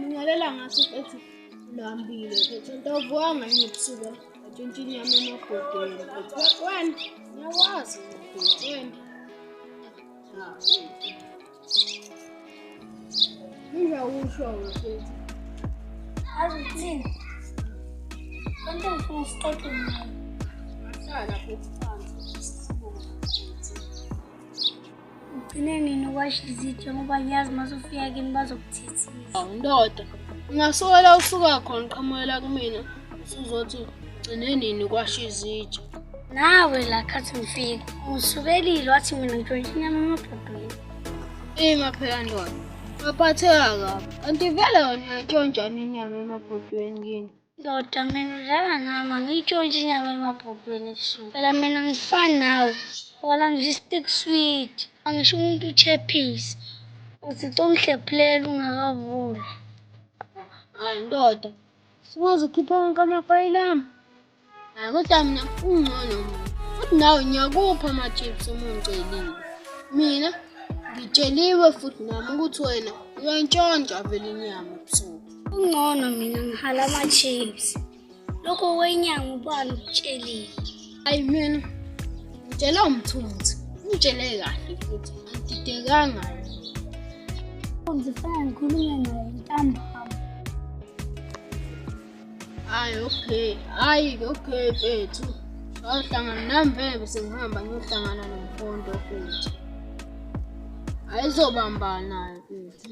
Ngalalela ngathi ethi lambile phethe into ovuanga yini ebusuku atshontsha inyama emabhodweni phethe wena ngiyawazi phethe wena Ugcine nini ukwasha izitsha ngoba ngiyazi uma sufika kimi bazokuthethisa. Ndoda, ngingasola usuka khona qhamukela kumina usuzothi Gcine nini kwasho izitsha? Nawe la khathi mfika. Usukelile wathi mina ngitshontsha inyama emabhodweni. Ima phela ndoda. Ngaphatheka kabi. Kanti vele wena uyatshontshana inyama emabhodweni kini. Ndoda mina udlala nami angiyitshontshe inyama emabhodweni ebusuku. Phela mina ngifani nawe. Wala ngisho i-stick sweet. Angisho umuntu uchephise. Uthi congihlephulela ungakavuli. Hayi ndoda. Singaze ukhiphe wonke amafayili ami. Hayi kodwa mina ungcono mina. Futhi nawe ngiyakupha ama-chips uma ungicelile. Mina ngitsheliwe futhi nami ukuthi wena uyantshontsha vele inyama ebusuku. Ungcono mina ngihala ama-chips. Lokho kwenyanga ubani ukutshelile. Ayi mina ngitshela umthunzi, ngitshele kahle futhi ngididekanga. Umthunzi fana ngikhulume naye ntambama. Ayi okay, ayi okay mfethu. Sayohlangana nami vele bese ngihamba ngiyohlangana nomkhonto futhi. Ayizobambana naye futhi.